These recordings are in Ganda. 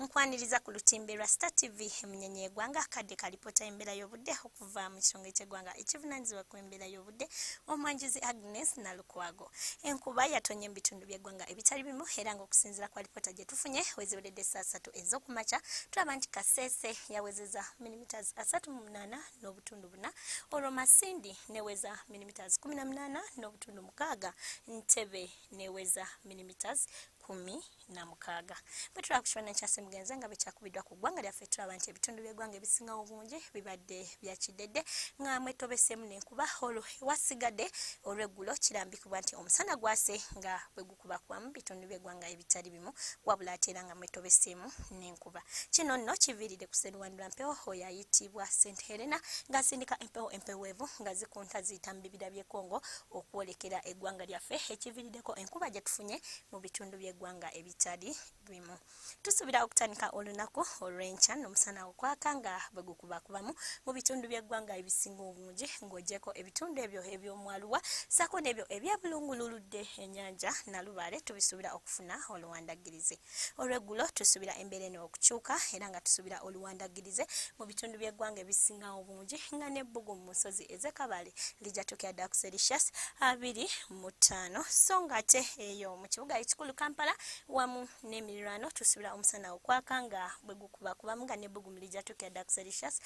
nkwaniriza ku lutimbe lwa star tv emunyenye egwanga akadde kalipota embeera y'obudde okuva mu kisonga ekyegwanga ekivunanyizibwa ku embeera y'obudde omwanjuzi agnes nalukwago enkuba yatonye mu bitundu byegwanga ebitali bimu era nga okusinzira kwa lipota gye tufunye weziweredde essaa satu ez'okumakya tulaba nti kaseese yawezeza milimeters asatu mu munaana n'obutundu buna olwo masindi neweza milimeters kumi na munaana n'obutundu mukaaga ntebe neweza milimeters kumi na mukaaga bwe tulaba ku kifaananyi kya ssemugenzi nga bwekyakubiddwa ku ggwanga lyaffe tulaba nti ebitundu by'eggwanga ebisinga obungi bibadde bya kiddedde nga mwetobeseemu n'enkuba olwo ewasigadde olw'eggulo kirambikibwa nti omusana gwase nga bwe gukubakubamu bitundu by'eggwanga ebitali bimu wabula ate era nga mwetobeseemu n'enkuba okukuba. Kino nno kiviiridde ku Sseruwandula Mpewo oyo ayitibwa St Helena ng'asindika empewo empeweevu nga zikunta ziyita mu bibira by'e Congo okwolekera eggwanga lyaffe ekiviiriddeko enkuba gye tufunye mu bitundu by'eggwanga ebitali bimu. Tusuubira okutandika olunaku olw'enkya n'omusana okwaka nga bwe gukubakubamu mu bitundu by'eggwanga ebisinga obungi ng'ogyeko ebitundu ebyo eby'omwaluwa ssaako n'ebyo eby'ebulungululudde ennyanja Nalubaale tubisuubira okufuna oluwandaggirizi. Olweggulo tusuubira embeera eno okukyuka era nga tusuubira oluwandaggirize mu bitundu by'eggwanga ebisinga obungi nga n'ebbugu mu nsozi ez'e Kabale lijja tuukira ddala ku Celsius abiri mu ttaano so ng'ate eyo mu kibuga ekikulu Kampala wamu n'emirirwano tusuubira omusana okwaka nga bwe gukubakubamu nga n'ebbugumu lijja tuukira ddala ku Celsius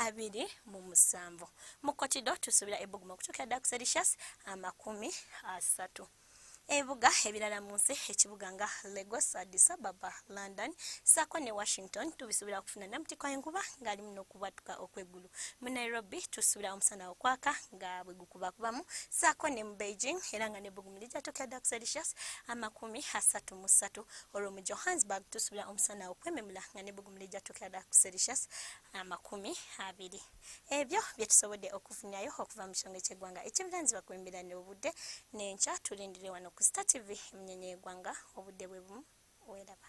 abiri mu musanvu. Mu Kotido tusuubira ebbugumu okutuukira ddala ku Celsius amakumi asatu. ebibuga ebirala mu nsi ekibuga nga Lagos, Addis Ababa, London saako ne Washington tubisuubira okufuna namutikwa enkuba ng'ali muno okubwatuka okw'eggulu. Mu Nairobi tusuubira omusana okwaka nga bwe gukubakubamu saako ne mu Beijing era nga ne bbugumu lijja tuuka dda ku Celsius amakumi asatu mu ssatu olwo mu Johannesburg tusuubira omusana okwememula nga ne bbugumu lijja tuuka dda ku Celsius amakumi abiri. ebyo byetusobodde okufunyayo okuva mu kisonge ky'eggwanga ekivulanzibwa ku embeera n'obudde n'enkya tulindire wano ku star tv emunyenye y'eggwanga obudde bwe bumu weeraba